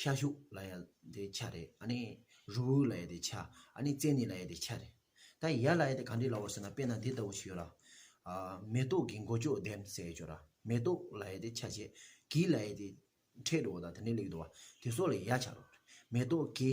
ཤ་ཤུག་ལ་ཡ་དེ་ཆ་རེད་ཨ་ནི་རུ་བོའི་ལ་ཡ་དེ་ཆ་ཨ་ནི་བཙན་ནི་ལ་ཡ་དེ་ཆ་རེད་ད་ཡ་ལ་ཡ་དེ་ག་འདྲི་ལ་བོར་ཟེར་ན་དཔེ་ན་འདི་ལྟ་བུ་ཞིག་ཡོད་ལ། མེ་ཏོག་གི་མགོ་ཅོག་ལྡེམ་ཟེར་ཡོད་ཆོག་ལ་མེ་ཏོག་ལ་ཡ་དེ་ཆ་བྱེད་གིས་ལ་ཡ་དེ་འཕྲེད་འགྲོ་བ་དང་དེ་འདྲའི་ལེགས་འགྲོ་བ་དེ་སོགས་ལ་ཡ་ཆ་རོགས། མེ་ཏོག་གི་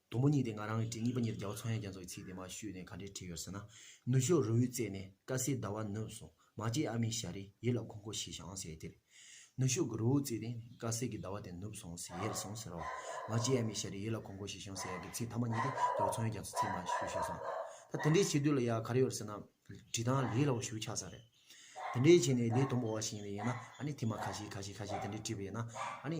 དུམ་བུ་གཉིས་དེ་ང་རང་གི་བྲིས་གཉིས་པ་གཉིས་ལ་རྒྱལ་བ་ཚོང་ཡང་རྒྱ་མཚོ་གི་ཚིག་དེ་མ་ཞུས་ནས་ག་འདྲའི་བྲིས་ཡོད་ཟེར་ན། ནུ་ཞོ་རུ་འུར་བརྩེགས་ནས་དཀར་སེར་ཟླ་བ་ནུབ་སོང་མ་སྐྱེས་ཨ་མའི་ཞལ་རེ་ཡིད་ལ་འཁོར་འཁོར་ཞེས་ཞེ་འང་ཟེར་དེར། ནུ་ཞོ་གི་རུ་འུར་བརྩེགས་ནས་དཀར་སེར་གྱི་ཟླ་བ་དེ་ནུབ་སོང་ཟེར་ཡལ་སོང་ཟེར་རོ། མ་སྐྱེས་ཨ་མའི་ཞལ་རེ་ཡིད་ལ་འཁོར་འཁོར་ཞེས་ཞེ་འང་ཟེར་ཡག་གི་ཚིག་མཐའ་མ་གཉིས་དེ་རྒྱལ་བ་ཚོང་ཡང་རྒྱ་མཚོའི་ཚིག་མ་ཞུས་ཞེས་སོང། ད་དེ་འདྲའི་བྱེད་དུས་ལ་ཡ་ག་རེ་ཡོད་ཟེར་ན། བྲིས་སྟངས་ལས་སླ་བོ་ཞུ་ཆགས་ས་རེད། དེ་འདྲའི་བྱེད་ནས་ལས་དུམ་བུ་བ་ཞིག་ཡིན་ན་ཡིན་ན་ཨ་ནི་དེ་མ་ཁ་ཤས་ཁ་ཤས་ཁ་ཤས་དེ་འདྲས་བྲིས་པ་ཡིན་ན་ཨ་ནི།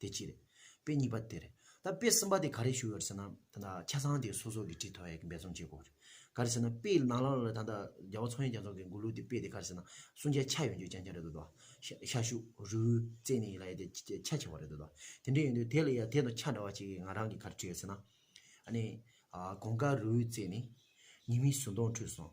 དེ་གཅིག་རེད། དཔེ་གཉིས་པ་དེ་རེད། ད་དཔེ་གསུམ་པ་དེ་ག་རེ་ཞུ་ཡོད་ཟེར་ན། ད་ལྟ་ཆ་ཚང་དེ་སོ་སོ་གི་བྲིས་ཐོ་ཡག་འབད་རྩོམ་བྱེད་དགོས་རེད། ག་རེ་ཟེར་ན་དཔེ་ནང་ལ་ལ་ལ་ད་ལྟ་རྒྱ་བོ་ཚོང་ཡིག་རྒྱ་ཚོང་གི་མགུར་གླུ་དེ་དཔེ་དེ་ག་རེ་ཟེར་ན་སུན་ཆའི་ཆ་ཡོད་རྒྱུ་རྐྱང་རྐྱང་རེད་འདོད་དོ། ཤ་ཤུ། རུའུ། བཙན་ནི་ཡིན་ལ་ཡ་དེ་ཆ་ཆེ་བ་རེད་འདོད་དོ། དེ་འདྲ་ཡིན་དུས་དེ་ལ་ཡ་དེ་དང་ཆ་འདྲ་བ་གཅིག་ང་རང་གི་ག་རེ་བྲིས་ཡོད་ཟེར་ན། ཨ་ནི། གོང་དཀར་རུའུ་བཙན་ནི། ཉི་མའི་ཟུར་མདོངས་འཁྲུད་སོང།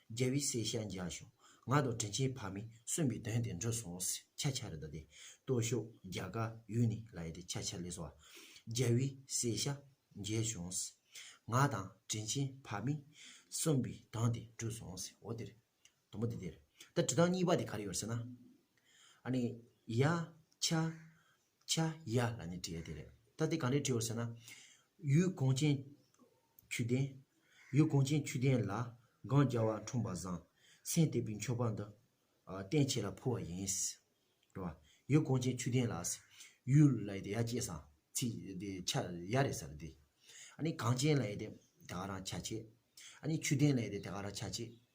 རྒྱལ་བའི་སྲས་ཤཱཀྱ་བཞུགས། ང་དང་དྲིན་ཆེན་ཕ་མས་གསོན་པའི་དོན་དེ་འགྲུབ་སོང་ཤཱཀྱ་ཆ་རེ་ད་དེ། སྟོད་ཕྱོགས་རྒྱ་གར་ཡུལ་ནས་ལ་ཡེ་དེ་ཆ་ཆ་ལེ་སོ། རྒྱལ་བའི་སྲས་ཤཱཀྱ་བཞུགས། ང་དང་དྲིན་ཆེན་ཕ་མས་གསོན་པའི་དོན་དེ་འགྲུབ་སོང་ཟེར་འོ་དེར། དང་པོ་དེ་དེར། ད་དྲི་དང་གཉིས་པ་དེ་ག་རེ་ཡོད་ཟེར་ན། ཨ་ནི། ཡ། ཆ། བྱ། ཡ། ལ་ནི་བྲི་ཡ་དེ་རེད། ད་དེ་གང་རེད་བྲིའོ་ཟེར་ན། ཡུལ་གངས་ཅན། ཆུ་ལྡན། ཡུལ་གངས་ཅན་ཆུ་ལྡན་ལ། སྒང་རྒྱ་བ་འཁྲུངས་པ་བཟང། སེང་སྟེགས་པའི་མཆོད་པ་འདི། བསྟན་བྱས་ལ་ཕུལ་བ་ཡིན། རེད་བ། ཡུལ་གངས་ཅན་ཆུ་ལྡན་ལ། ཡུལ་ལ་ཡི་དེ་ཡ་བཅས་སམ། ཚིག་དེ་ཆ་ཡ་རེད་ས་རེད་དེ། ཨ་ནི་གངས་ཅན་ལ་ཡི་དེ། དེ་ག་རང་ཆ་བྱེད། ཨ་ནི་ཆུ་ལྡན་ལ་ཡི་དེ་དེ་ག་རང་ཆ་བྱེད།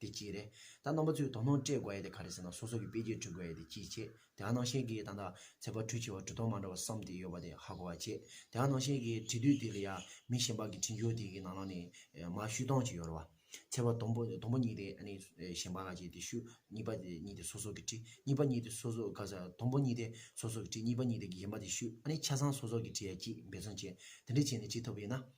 དེ་གཅིག་རེད། ད་རྣམ་པ་ཚོས་དོ་སྣང་སྤྲད་དགོས་ཡ་དེ་ག་རེད་ཟེར་ན་སོ་སོ་གི་དཔེ་རྒྱས་བྲི་དགོས་ཡ་དེ་ཅིའི་ཆེད་དེ་ཧ་ནང་བཞིན་གྱི་ད་ད་ཚེ་པ་ཁྲུས་བྱེད་པ་གྲུ་ཐོག་མ་འདྲ་བ་བསམ་དེ་ཡོད་པ་དེ་ཧ་གོ་བ་བྱེད་དེ་ཧ་ནང་བཞིན་གྱི་བྲི་དུས་དེ་ལ་ཡ་མི་གཞན་པ་གི་བྲི་འགྱུར་དེ་གི་ནང་ལ་ནི་མ་བཤུས་སྟངས་ཅིག་ཡོད་རེད་བ། ཚེ་པ་དང་པོ་དང་པོ་གཉིས་དེ་ཨ་ནི་གཞན་པ་ལ་བྱས་དེ་བཤུས་གཉིས་པ་དེ་གཉིས་དེ་སོ་སོ་གི་བྲི་གཉིས་པ་གཉིས་དེ་སོ་སོ་ག་ས་དང་པོ་གཉིས་དེ་སོ་སོ་གི་བྲི་གཉིས་པ་གཉིས་དེ་གཞན་པ་དེ་བཤུས་ཨ་ནི་ཆ་ཚང་སོ་སོ་གི་བྲི་ཡ་གཅིག་འབད་བརྩོན་བྱས་དེ་འདྲས་བྱས་ནས་བྱེད་ཐུབ་པ་ཡིན་ན།